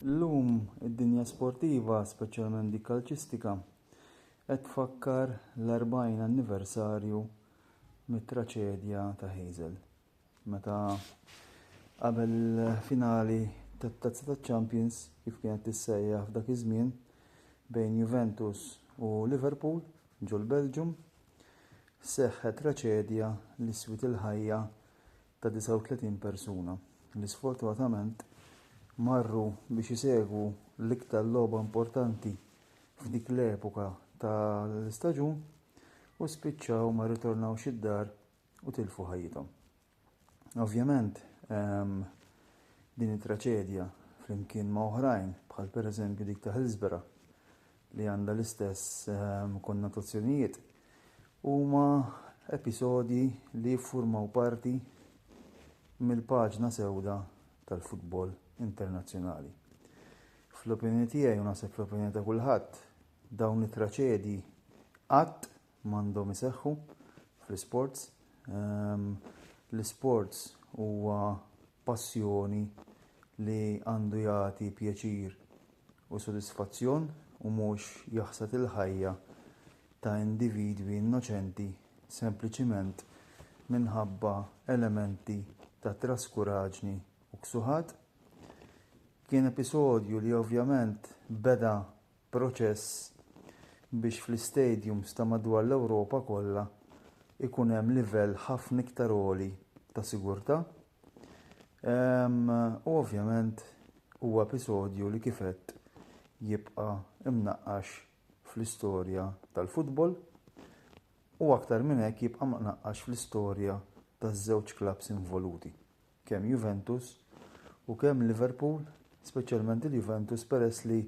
Illum id-dinja sportiva, speċjalment dik kalċistika, qed tfakkar l-40 anniversarju mit-traċedja ta' Heysel, meta qabel il-finali tat-Tazza taċ-Champions, kif kienet tissejjaħ f'dak iż-żmien, bejn Juventus u Liverpool ġol-Belġjum, seħħet traċedja li swiet il-ħajja ta' 39 persuna li sfortunatament marru biex isegwu l-iktar logħba importanti f'dik l-epoka tal-istaġun u spiċċaw ma ritornawx id-dar u tilfu ħajjithom. Ovvjament, ehm, din it-traċedja flimkien ma' oħrajn bħal pereżempju dik ta' Hillsborough li għandha l-istess ehm, konnotazzjonijiet, huma episodji li jiffurmaw parti mill-paġna sewda tal-futbol internazzjonali. Fl-opinjoni tiegħi u naħseb fl-opinjoni ta' kulħadd, dawn it-traċedji qatt m'għandhom iseħħu fl-isports. L-isports huwa passjoni li għandu jagħti pjaċir u sodisfazzjon u mhux jaħsad il-ħajja ta' individwi innoċenti sempliċiment minħabba elementi ta' traskuraġni u ksuħat. Kien episodju li ovvjament beda proċess biex fl-istadiums ta' madwar l-Ewropa kollha jkun hemm livell ħafna iktar għoli ta' sigurtà u ovvjament huwa episodju li kif għedt jibqa' mnaqqax fl-istorja tal-football u aktar minn hekk jibqa' mnaqqax fl-istorja taż-żewġ klabbs involuti. kemm Juventus u kemm Liverpool, speċjalment il-Juventus peress li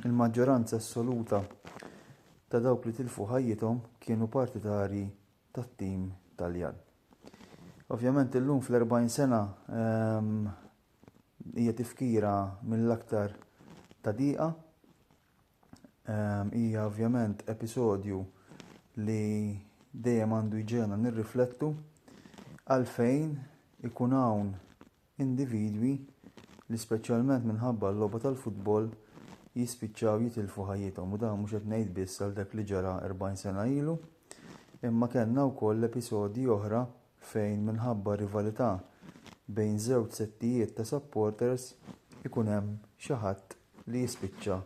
l-maġġoranza assoluta ta' dawk li tilfu ħajjithom kienu partitarji tat-tim Taljan. Ovvjament illum fl-40 sena ehm, hija tifkira mill-aktar ta' diqa Hija ovvjament episodju li dejjem għandu jġena nirriflettu għalfejn ikun hawn individwi li speċjalment minħabba l-logħba tal-futbol jispiċċaw jitilfu ħajjithom u dan mhux qed ngħid biss għal dak li ġara 40 sena ilu, imma kellna wkoll episodji oħra fejn minħabba rivalità bejn żewġ settijiet ta' supporters ikun hemm xi ħadd li jispiċċa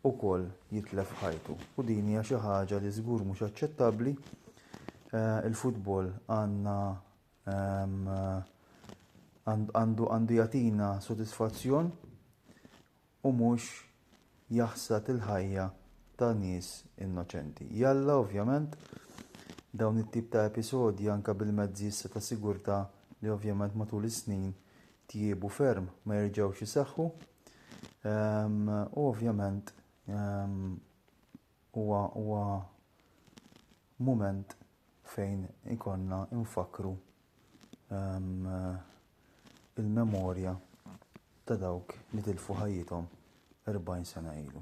wkoll jitlef ħajtu u din hija xi ħaġa li żgur mhux aċċettabbli. Eh, il-futbol għandna ehm, għandu jatina sodisfazzjon u mhux jaħsad il-ħajja ta' nies innoċenti. Jalla, ovvjament, dawn it-tip ta' episodji anke bil-mezzi issa ta' sigurtà li ovvjament matul is-snin tjiebu ferm ma jerġgħux iseħħu. Ehm, u ovvjament ehm, huwa huwa mument fejn ikonna nfakru il-memorja ta' dawk li tilfu ħajjithom 40 sena ilu.